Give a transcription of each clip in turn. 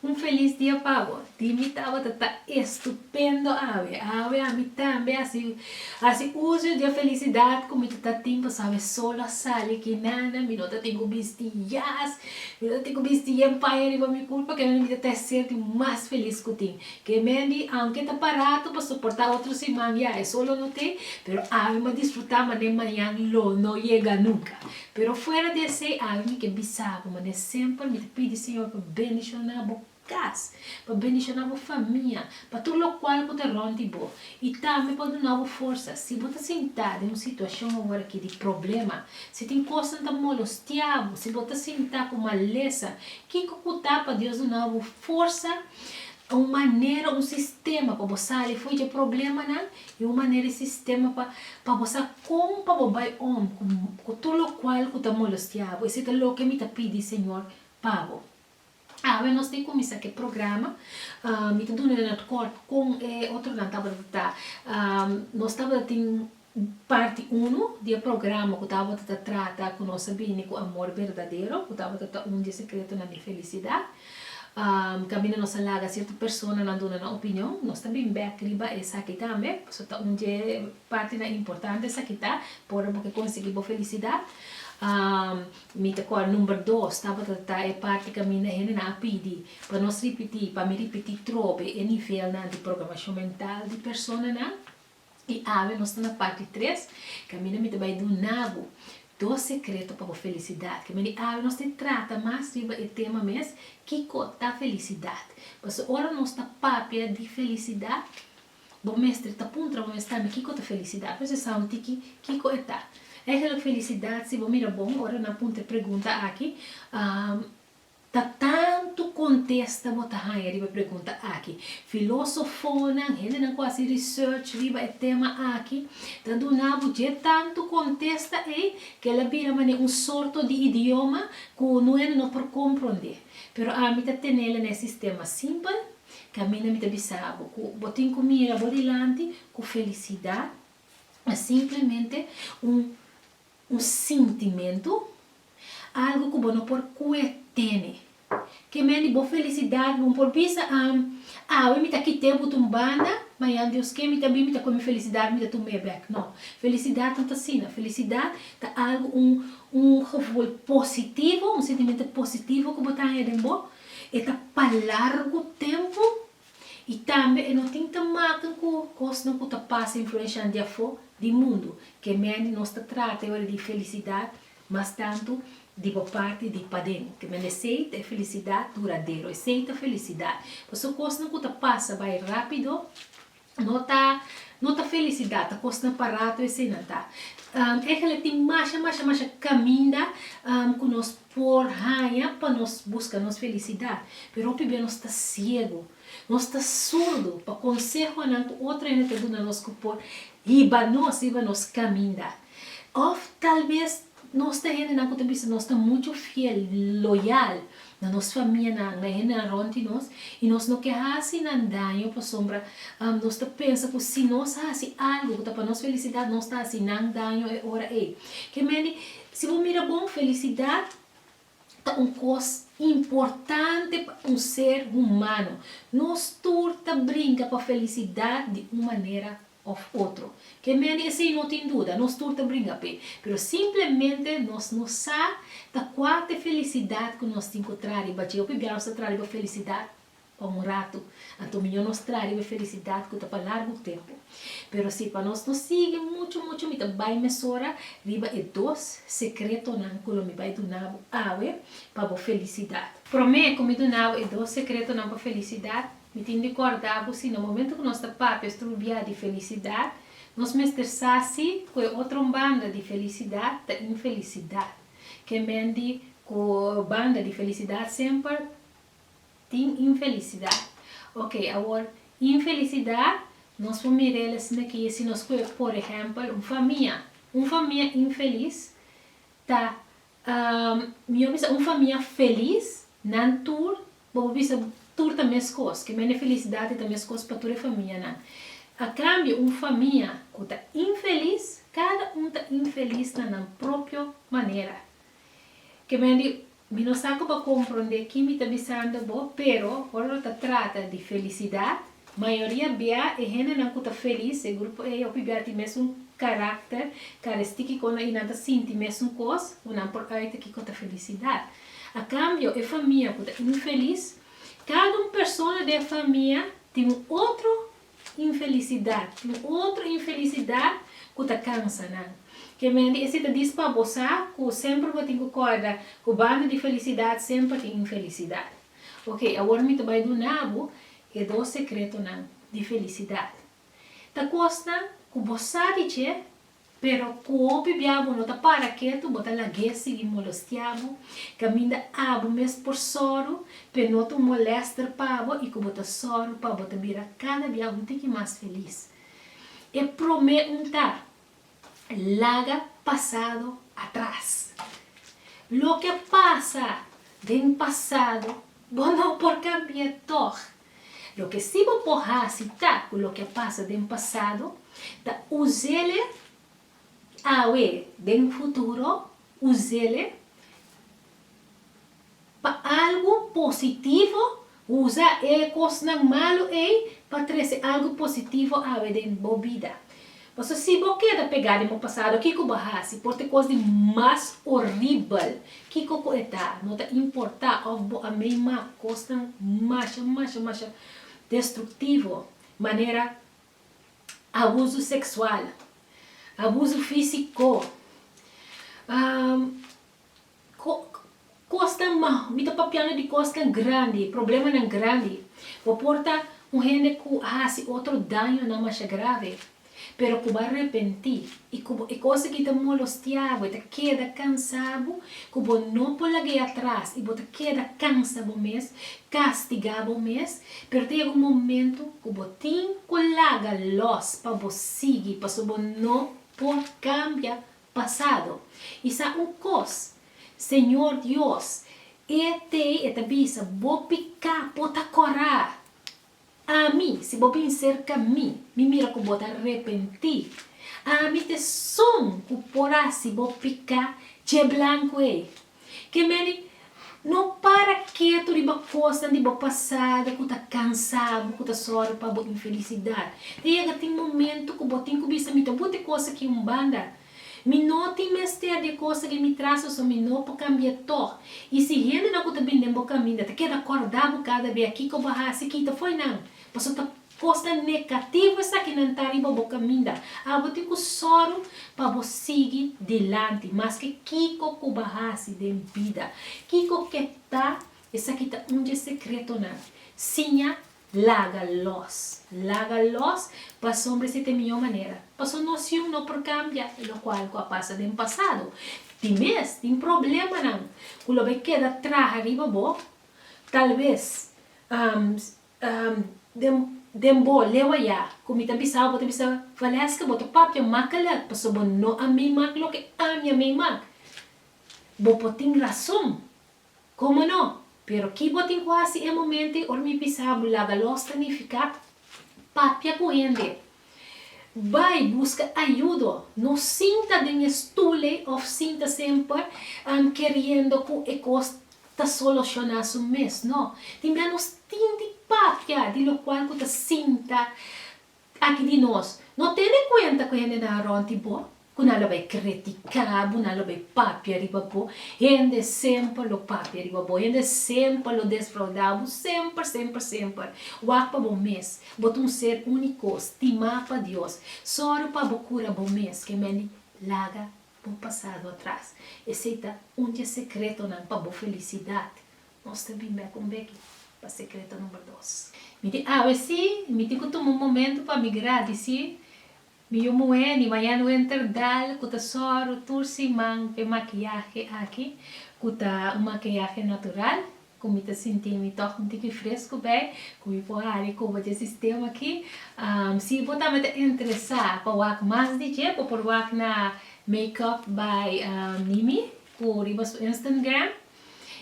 Un felis dia pa bo. Di mi tabata ta estupendo awe. Awe ami tambe a haci haci uso di e felicidad cu mi ta ta tin pasaba e sol a sali aki nana. Mi no ta tin cu bisti jas. Mi no ta tin cu bisti yen paña riba mi cul pakinan mi ta ta e ser di mas felis cu tin. Ke men di aunke ta paratu pa soporta otro siman ya e sol lo no te pero awe mi a disfruta mane mañan lo no yega nunca. Pero fuera di esei algin mi ke bisa bo manera sempel mi ta pidi Señor pa bendiciona bo cas, pa bendiciona bo famia, pa tur locual cu ta rond di bo y tambe pa duna bo forsa si bo ta sinta den un situacion aworaki di problema, si tin cosnan ta molostia bo, si bo ta sinta cu malesa, kico cu ta pa Dios duna bo forsa, un manera, un sistema pa bo sali fui dje problemanan I un manera e sistema pa pa bo sa kon pa bo bai om ku ku tur lokual ku ta molostiá bo. Esei ta loke mi ta pidi Señor pa bo. Awe nos ta e kuminsá ku e programa. Mi ta duna nan kort kon e otronan tabata ta. Nos tabata tin parti uno di e programa ku tabata ta trata ku nos a bini ku amor berdadero, ku tabata ta un di e sekretonan di e felisidat. Kaminda nos a laga sierto persona nan duna nan opinion, nos ta bin bek riba esaki tambe, pasobra ta un dje partinan importante esaki ta, por ora bo ke konsegui bo felisidat. Mi ta kor number dos tabata ta e parti kaminda hendenan a pidi pa nos ripiti, pa mi ripiti trobe e nivelnan di programashon mental di personanan. I awe nos ta na parti tres, kaminda mi ta bai dunabu dos sekreto pa bo felisidat. Kaminda di awe nos ta trata mas riba e tema mes, Kiko ta felisidat? Pasobra ora nos ta papia di felisidat, bo mester ta puntra bo mes tambe, Kiko ta felisidat? Nos mester sa un tiki kiko e ta. Eigenlik felisidat, si bo mira bon, ora nan puntra e pregunta aki, Ta tantu kontesta bo ta haña riba e pregunta aki. Filosofonan, hendenan ku hasi research riba e tema aki, ta duna bo dje tantu kontesta ei ku el a bira manera un sorto di idioma ku nuhende no por komprondé. Pero ami ta tenel na e sistema simpel, kaminda mi ta bisa bo ku bo tin ku mira bo dilanti ku felisidat ta simplemente un sintimentu. Algu ku bo no por kue tene. Ke men di bo felisidat, bo por bisa am, Awe mi ta kite but un banda, mañan Dios ke mi ta bin, mi ta kue mi felisidat, mi ta tuma e bek. No. Felisidat no ta asina. Felisidat ta algu, un un gevoel positivo, un sentimento positivo ku bo ta haña den bo. E ta pa largu tempu i tambe e no tin ta maken ku kosnan ku ta pasa influenshan di afó, di mundu. Ke men di nos ta trata e ora di felisidat Mas tantu di bo parti di paden, ku men esei ta e felisidat duradero. Esei ta felisidat. Pasobra kosnan ku ta pasa bai rápido no ta no ta felisidat, ta kosnan pa ratu eseinan ta. Eligio la tin masha, masha, masha kaminda ku nos por haña pa nos buska nos felisidat. Pero hopi bia nos ta siegu, nos ta surdu pa konsehonan ku otro hende ta duna nos ku por hiba nos, hiba nos kaminda. Òf talbes nos ta hendenan ku ta bisa nos ta muchu fiel, loyal, na nos famianan, na e hendenan rònt di nos, i nos no ke hasi nan daño pasobra nos ta pensa ku si nos hasi algu ku ta pa nos felisidat, nos ta hasi nan daño e ora ei. Ke mende, si bo mira bon, felisidat ta un kos importante pa un ser humano. Nos tur ta brinka pa felisidat di un manera òf otro. Ke mendi esei no tin duda, nos tur ta bringa p'e. Pero simplemente nos no sa ta kua t'e felisidat ku nos tin ku tradi. Bache hopi bia nos ta tradi pa felisidat pa un ratu. Anto mihó nos tradi pa felisidat ku ta pa largu tempu. Pero si pa nos no sigui muchu muchu mi ta bai mesora riba e dos sekretonan ku lo mi bai duna bo awe pa bo felisidat. Promé ku mi duna bo e dos sekretonan pa felisidat Mi tin di kòrda bo si na momentu ku nos ta papia strubiá di felisidat, nos mester sa si ku e otro banda di felisidat ta infelisidat. Ke mende ku banda di felisidat semper tin infelisidat. Oke, awor, infelisidat nos por mira el asina ke si nos kuer, por ehèmpel, un famia. Un famia infelis ta Mi a bisa un famia felis, nan tur, bo por bisa tur ta meskos, ke mende felisidad e ta meskos pa tur e famianan. A cambio un famia cu ta infelis, cada un ta infelis na nan propio manera. Ke mende mi no sa cu bo a compronde ki mi ta bisando bo, pero ora lo ta trata di felicidad, Mayoria bia e hendenan ku ta felis, e grupo ei hopi bia tin mesun karakter, karestiki kon i nan ta sinti mesun kos ku nan por ùita kiko ta felisidat. A kambio, e famia ku ta infelis, kada un persona den e famia tin un otro infelisidat, tin un otro infelisidat ku ta kansa nan. Ke mende ese ta dis pa bo sa ku semper bo tin ku kòrda ku banda di felisidat semper tin infelisidat. Ok, awor mi ta bai duna bo e dos secretonan di felicidad. Ta cosnan cu bo sa di dje, pero cu hopi bia bo no ta para ketu, bo ta lag'é sigui molostia bo, caminda abo mes por sòru p'e no ta un molester pa bo y cu bo ta sòru pa bo ta bira cada bia un tiki mas feliz. E prome un ta. Laga pasado atras. Loke pasa den pasado bo no por cambia tog. Loke si bo por hasi ta cu loke pasa den pasado ta usele awe den futuro usele. Pa algu positivo, usa e kosnan malu ei pa trese algu positivo awe den bo bida. Paso si bo keda pegá den bo pasado, kiko bo a hasi? Por t'e kos di mas oribel, kiko ku e ta? No ta importá òf bo a meima kosnan masha, masha, masha destruktivo, manera abusu seksual, abusu físiko. Kosnan maho. Mi ta papiando di kosnan grandi, problemanan grandi. Bo por ta un hende ku a hasi otro dañonan masha grave, pero ku bo a repentí i ku bo e kos aki ta molostiabu, e ta keda kansabu ku bo no por lag'e atras i bo ta keda kansa bo mes, kastigá bo mes. Pero ta yega un momentu ku bo tin ku laga lòs pa bo sigui, pasobra bo no por kambia Pasado, i sa un kos, Señor Dios, e tei e ta bisa, bo piká po ta korá. Ami, si bo bin serka mi, mi mira ku bo ta repentí. Ami ta esun ku por hasi bo piká dje blanku ei. Ke meni, no para ketu riba kosnan di bo pasado ku ta kansa bo, ku ta sòru pa bo infelisidat. Ta yega tin momentu ku bo tin ku bisa, Mi ta buta e kos aki un banda. Mi no tin mester di e kos aki mi traso, so mi no por kambia tòg. I si hendenan ku ta bin den bo kaminda ta keda kòrda bo kada bia kiko bo hasi kita fo'i nan, pasobra ta Kosnan negativo esaki nan ta riba bo kaminda. Abo tin ku sòru pa bo sigui dilanti maske kiko ku bo hasi den bida. Kiko ke ta, esaki ta un dje sekretonan. Siña laga lòs. Laga lòs pasobra ese ta e mihó manera. Paso nosion no por kambia lokual ku a pasa den pasado. Tin mes tin problemanan ku lo bai keda traha riba bo. Talves, den bo, lewa ya, ku mi ta bisa bo, ta bisa, Valesca, bo ta papia makalak, pasobra bo no a meemak loke ami a meemak. Bo por tin rason, komo no? Pero ki bo tin ku hasi e momento ei, ora mi bisa bo, laga los ta nifiká papia ku hende. Bai buska ayudo. No sinta den e stule of sinta semper keriendo ku e kos ta soloshoná su mes. No. Tin bia nos tin di papia di lokual ku ta sinta aki di nos. No tene kuenta ku hendenan rònt di bo. ku nan lo bai kritiká bo, nan lo bai papia riba bo, hende semper lo papia riba bo, hende semper lo desfraudá bo, semper, semper, semper. Wak pa bo mes, bo ta un ser úniko, stimá pa Dios. Sòru pa bo kura bo mes, ke men di, Laga bo pasado atras. Esei ta un dje sekretonan pa bo felisidat. Nos ta bin bèk un beki pa sekreto number dos. Mi tin awe sí, mi tin ku tuma un momentu pa mi gradisí Mi yu muhé di mañana wenter dal ku ta sòru tur siman p'e makiyahe aki ku ta un makiyahe natural ku mi ta sinti mi tòg un tiki fresku bai ku mi por hari koba dje sistema aki. Si bo tambe ta interesá pa wak mas di dje bo por wak na Makeup by Mimi ku riba su Instant Gram.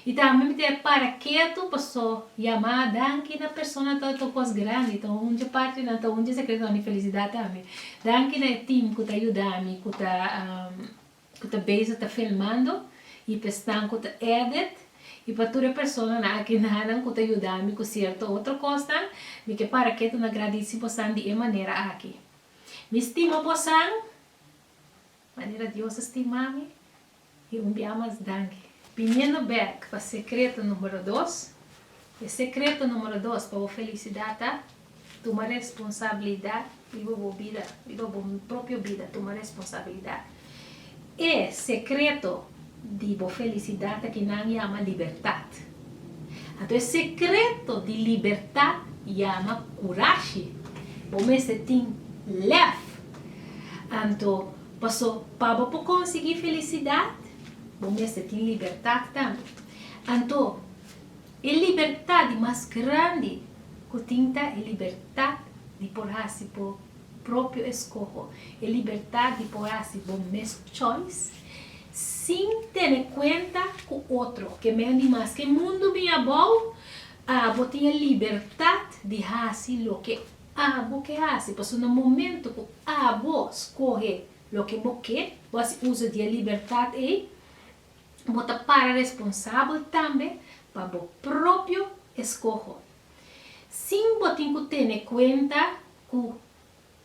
I tambe mi ta e para ketu paso yamá danki na persona ta ta kos grandi ta hunchi parti nan ta hunchi sekreto nan di felisidat tambe danki na e team ku ta yuda mi ku ta ku ta bezig ta filmando i p'e snan ku ta edit i pa tur e personanan aki nan nan ku ta yuda mi ku sierto otro kosnan mi ke para ketu na gradisi bosan di e manera aki mi stima bosan manera Dios a stima mi. I un bia mas danki. Biniendo bek pa secreto numero dos, e secreto numero dos pa bo felicidad ta, tuma responsabilidad riba bo bida, riba bo propio bida tuma responsabilidad. E secreto di bo felicidad ta ki nan yama libertad. Anto e secreto di libertad yama curashi. Bo mester tin lef. Anto. Paso, pa bo por konsiguí felisidat, bo mester tin libertat tambe. Anto, e libertat di mas grandi ku tin ta e libertat di por hasi bo propio eskoho, e libertat di por hasi bo mes choice sin tene kuenta ku otro, ke men di mas. Ke mundu bin abou, bo tin e libertat di hasi loke Abo ke hasi pasobra na momento ku abo skohe loke bo ke, bo hasi uso di e libertat ei, bo ta para responsabel tambe pa bo propio eskoho, sin bo tin ku tene kuenta ku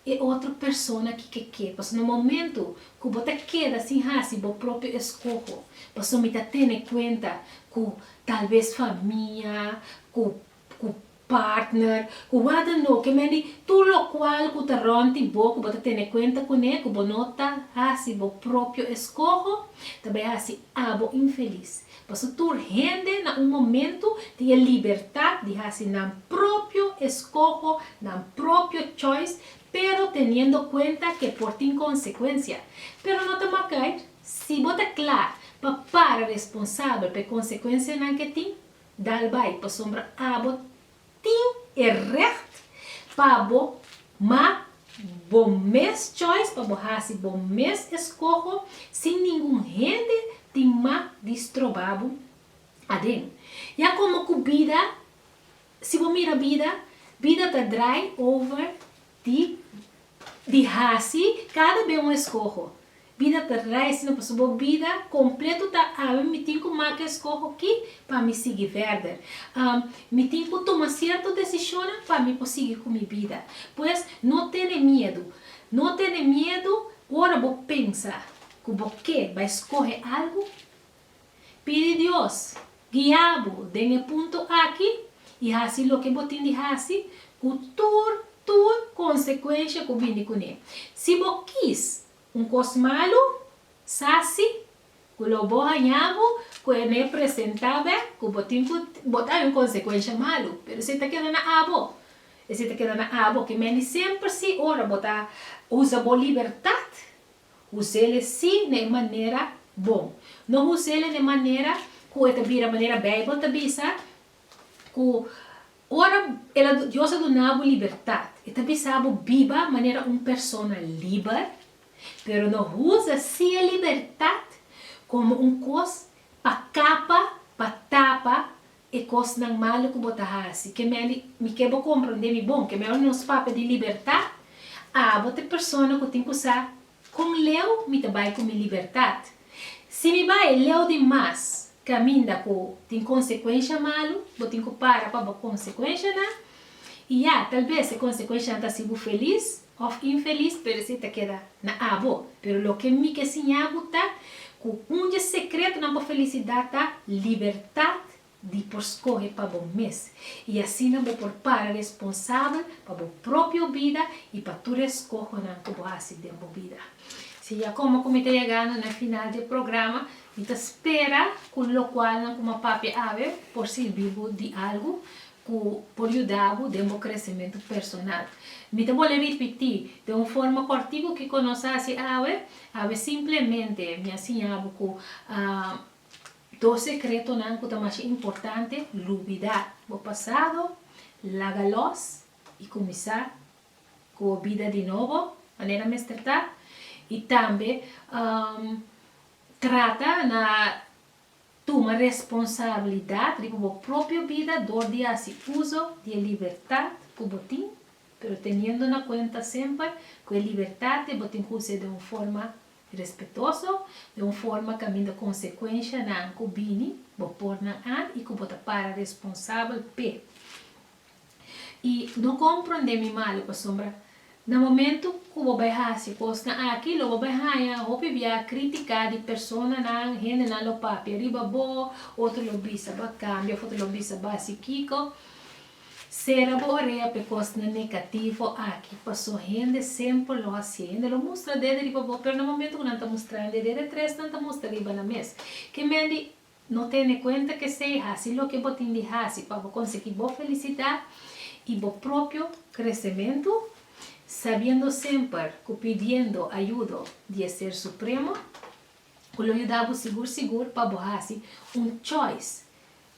e otro persona ki ke ke. Pasobra na momento ku bo ta keda sin hasi bo propio eskoho, pasobra mi ta tene kuenta ku tal bes famia, ku cu partner, cu wha dan no, que mende, tur locual cu ta rond di bo cu bo ta tene cuenta cune, cu bo no ta haci bo propio escoho, ta bay haci abo infeliz. Paso tur hende na un momento tin e libertad di haci nan propio escoho, nan propio choice, pero teniendo cuenta que por tin consecuencia. Pero no ta macair, si bo ta cla pa para responsabel pa e consecuencianan que tin, Dal bai, pasobra abo tin e recht pa bo mak bo mes choice, pa bo hasi bo mes eskoho, sin ningun hende tin mak di stroba bo aden. Ya como cu bida, si bo mira bida, bida ta draai over di di hasi cada be un eskoho. Bida ta reis na pasobra bo bida completo ta ami mi tin cu maca escoho ki pa mi sigui verder. Mi tin cu tuma cierto decisionnan pa mi por sigui cu mi bida. Pues no tene miedu. No tene miedu ora bo pensa cu bo ke bai scohe algo. Pidi Dios guia bo den e punto aki y haci loke bo tin di haci cu tur tur consecuencia cu bini cune. Si bo kiss Un kos malu sa si ku lo bo hañá bo ku e me presentá b'e ku bo tin ku bo ta haña un konsekuensha malu, pero si e ta keda na abo, e si ta keda na abo. Ke meni semper si ora bo ta usa bo libertat, us'el sí na e manera bon. No us'el na e manera ku e ta bira manera Beibel ta bisa, Ku ora el a, Dios a duna bo libertat, e ta bisa bo biba manera un persona liber, pero no usa si e libertat komo un kos pa kapa, pa tapa e kosnan malu ku bo ta hasi. Ke mende, mi ke bo komprondé mi bon, ke mende nos papia di libertat, abo ta e persona ku tin ku sa Kon leu mi ta bai ku mi libertat? Si mi bai leu di mas kaminda ku tin konsekuensha malu, bo tin ku para pa bo konsekuenshanan. I ya, tal bes e konsekuenshanan ta hasi bo felis òf infelis, pero esei ta keda na abo. Pero loke mi ke siña bo ta ku un dje sekretonan pa felisidat ta libertat di por skohe pa bo mes, i asina bo por para responsabel pa bo propio bida i pa tur e skohonan ku bo hasi den bo bida. Si ya komo ku mi ta yegando na final di e programa, mi ta spera ku lokualnan ku mi a papia awe por sirbi bo di algu ku por yuda bo den bo kresementu personal. Mi ta bole ripití den un forma kòrtiku kiko nos a hasi awe. Awe simplemente mi a siña bo ku. Dos sekretonan ku ta masha importante, Lubidá bo pasado, laga lòs i kuminsá ku bo bida di nobo manera mester ta, i tambe trata na tuma responsabilidat riba bo propio bida dor di hasi uso di e libertat ku bo tin, pero teniendo na kuenta semper ku e libertat ei bo tin ku usa den un forma Respetoso, den un forma kaminda konsekuenshanan ku bini bo por nan ant i ku bo ta para responsabel p'e. I no komprondé mi malu, pasobra na momentu ku bo bai hasi kosnan aki lo bo bai haña hopi bia kritiká di personanan, hendenan lo papia riba bo, otro lo bisa bo a kambia of otro lo bisa bo a hasi kiko. Sera bo orea p'e kosnan negativo aki, paso hende semper lo hasié. Hende lo mustra dede riba bo, pero na momento ku nan ta mustra hende dede, tres nan ta mustra riba nan mes. Ke men di, No tene kuenta k'esei, hasi loke bo tin di hasi pa bo konsegí bo felisidat i bo propio kresementu, sabiendo semper ku pidiendo ayudo di e Ser Supremo, ku lo yuda bo sigur sigur pa bo hasi un choice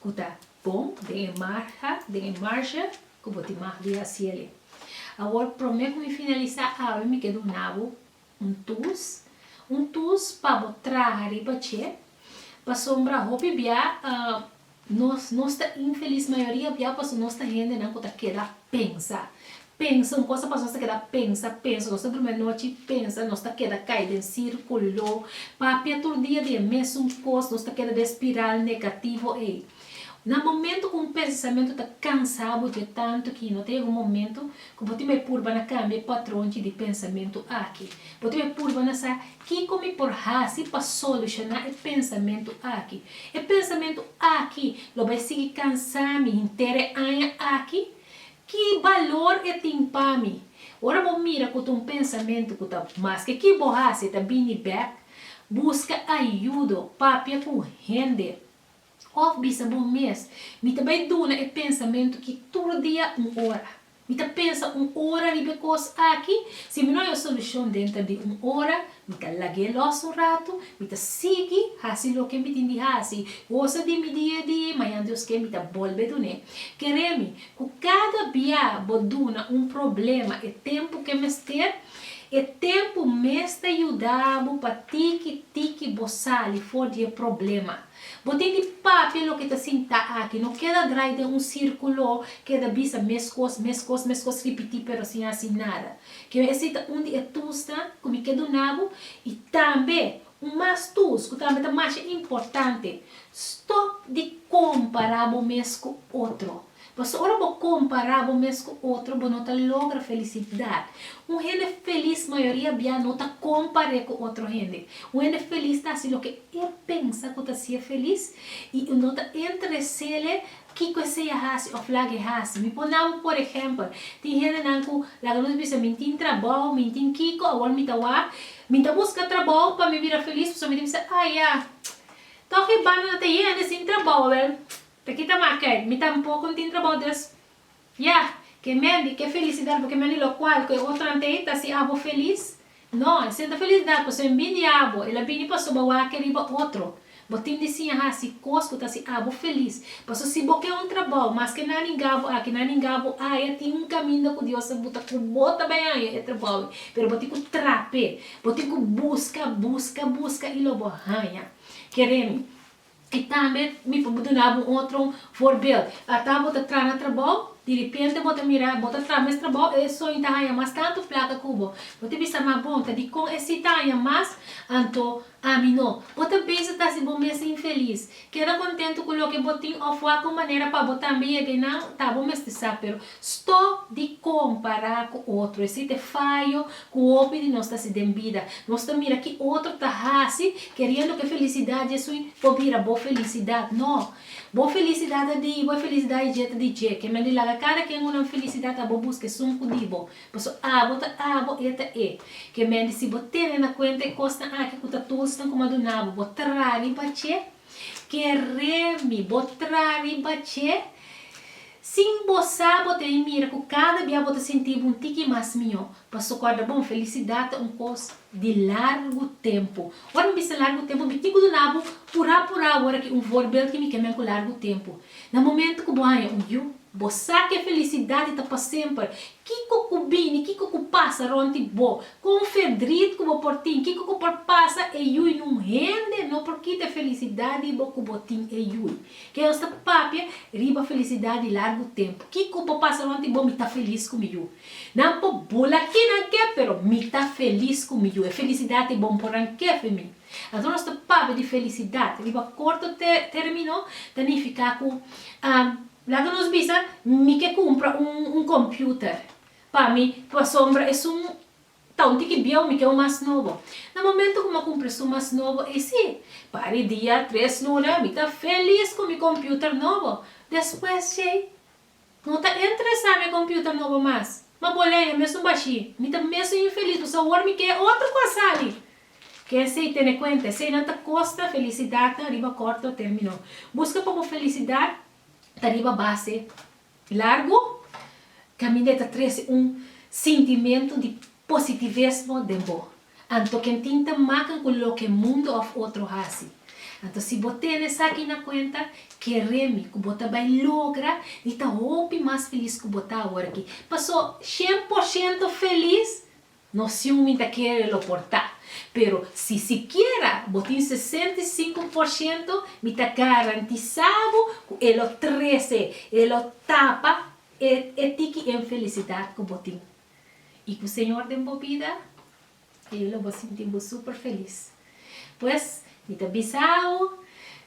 ku ta bon den e marha, den e marsha ku bo tin mah di hasiele. Awor promé ku mi finalisá awe mi ke duna bo un tus, un tus pa bo traha riba dje, pasobra hopi bia nos nos ta infelis, mayoria bia paso nos ta hendenan ku ta keda pensa, Pensa, un kos ta pasa nos ta keda pensa, pensa, nos ta drumi anochi pensa, nos ta keda kai den sirkulo, papia tur dia di e mesun kos, nos ta keda den e spiral negativo ei. Na momentu ku un pensamentu ta kansa bo dje tantu ki no ta yega un momentu ku bo tin bai purba na kambia e patron dje di pensamentu aki. Bo tin bai purba na sa kiko mi por hasi pa solushoná e pensamentu aki. E pensamentu aki lo bai sigui kansa mi henter e aña aki? Ki balor e tin pa mi? Ora bo mira ku ta un pensamentu ku ta maske ki bo hasi e ta bini bèk, buska ayudo, papia ku hende, òf bisa bo mes, Mi ta bai duna e pensamentu ki tur dia un ora. Mi ta pensa un ora riba e kos aki. Si mi no haya solushon denter di un ora, Mi ta lag'é lòs un ratu, mi ta sigui hasi loke mi tin di hasi. Gosa di mi di e di, mañan Dios ke mi ta bolbe dun'é. Ker'é mi, ku kada bia bo duna un problema e tempu ke mester, e tempu mes ta yuda bo pa tiki tiki bo sali for di e problema. Bo tin di papia loke ta sinta aki, no keda drai den un sirkulo, keda bisa meskos, meskos, meskos, ripití pero sin hasi nada. Ke me esei ta un di e tusnan ku mi ke duna bo, i tambe un mas tus ku tambe ta masha importante, stòp di kompará bo mes ku otro. Pasobra ora bo kompará bo mes ku otro, bo no ta logra felisidat. Un hende felis mayoria bia no ta kompar'é ku otro hende. Un hende felis ta hasi loke e pensa ku ta hasié felis i no ta interes'é Kiko esei a hasi òf laga e hasi? Mi pone abo por ehèmpel, tin hendenan ku laga nos bisa, mi tin trabou, mi tin kiko, awor mi ta wak, mi ta buska trabou pa mi bira felis, pasobra mi ta bisa, ah ya, tòg e banda ta yende sin trabou, awor ta kita mak'ei, mi tampoko no tin trabou, des Ya, ke mendi, ke felisidat bo ke mendi lokual ku e otronan tei ta si abo felis? No, e seta felisidat pasobra e bin di abo, el a bini pasobra bo a keri riba otro. Bo tin di siña hasi kos ku ta si abo felis. Pasobra si bo ke un trabou, maske nan a ninga bo aki, nan a ninga bo aya, tin un kaminda ku Dios a buta ku bo ta bai haña e trabou ei, pero bo tin ku trape, bo tin ku buska, buska, buska i lo bo haña. Keremi. I tambe mi por duna bo un otro voorbeeld. Ata bo ta traha na trabou, di repente bo ta mira bo ta traha mes trabou e esoño ta haña mas tantu plaka ku bo. Bo ta bisa, ma bon, ta dikon esei ta haña mas, anto ami no? Bo ta bisa ta hasi bo mes infelis. Keda kontentu ku loke bo tin òf wak un manera pa bo tambe yega einan, ta bo mester sa. Pero Stop di compará cu otro. Esey t'e fayo cu hopi di nos ta haci den bida. Nos ta mira ki otro ta haci, keriendo k'e felicidad djesui por bira bo felicidad. No! Bo felicidad ta di i, bo e felicidad di dje ta di dje. Kembia di laga cada kien una felicidad abo busca esun cu di bo. Paso abo ta abo, e ta e. Kembia di si bo tene na cuenta e cosnan aki cu ta tulsnan cu madunabo, bo traha riba dje. Ke remi bo tra riba dje? Sin bo sa, bo ta bin mira ku kada bia bo ta sinti bo un tiki mas mihó. Pa sokorda bon, felisidat ta un kos di largu tempu. Ora mi bisa largu tempu, mi tin ku duna bo purá purá awor aki un voorbeeld ki mi ke men ku largu tempu. Na momentu ku bo haña un yu. Bo sa ke felisidad di ta pa semper. Kiko ku bini, kiko ku pasa rond di bo, kon fedrit ku bo por tin, kiko ku por pasa e yui na un hende no por kita e felisidad di bo ku bo tin e yui. Ke nos ta papia riba felisidad di largu tempu. Kiko por pasa rond di bo, mi ta felis ku mi yu. Nan por bula kinan ke, pero mi ta felis ku mi yu. E felisidad di bo mi por nan kefemi. Anto nos ta papia di felisidat riba korto termino ta nifiká ku laga nos bisa mi ke kumpra un kompiuter. Pa mi pasombra esun ta un tiki bieu mi ke un mas nobo. Na momentu ku mi a kumpra esun mas nobo ei si pa di dia tres luna mi ta felis ku mi kompiuter nobo. Despues djei. No ta interesá mi e computer nobo mas. Ma bo leña mesun bashí. Mi ta mesun infeliz dus awor mi ke otro cu a sali. Kensei tene cuenta eseinan ta costa felicidadnan riba corto termino. Busca pa bo felicidad ta riba base largo caminda e ta trece un sintimento di positivesmo den bo. Anto ken tin ta makan ku loke mundu òf otro hasi. Anto si bo tene esaki na kuenta, kere mi ku bo ta bai logra di ta hopi mas felis ku bo ta awor aki. Paso, shen por shento felis? No siun mi ta kere lo por ta. Pero, si sikiera bo tin sesenta i sinku por shento, mi ta garantisá bo ku e lo trese, e lo tapa e e tiki enfelisidat ku bo tin. i ku Señor den bo bida, e lo bo sinti bo super felis. Pues, mi ta bisa bo,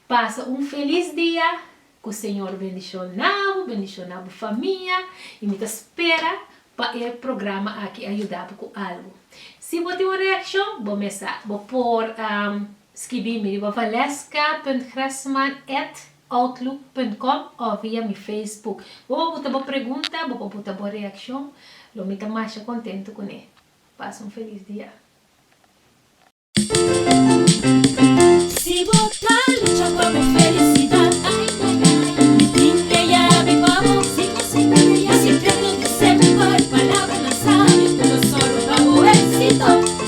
pasa un felis dia, ku Señor bendishona bo, bendishona bo famia, i mi ta spera pa e programa aki a yuda bo ku algu. Si bo tin un reakshon, bo mes sa bo por Skibí mi riba valeska.grasman at outlook punt com o via mi Facebook. Bo pa buta bo pregunta, bo pa buta bo reakshon, lo mi ta masha kontentu kuné. Pasa un felis dia. Si bo ta lucha pa bo felisidad ay ay ay mi tin e yabi pa bo si bo sinti mi ya secreto di semper palabra na sabio ku lo sorba pa bo exito.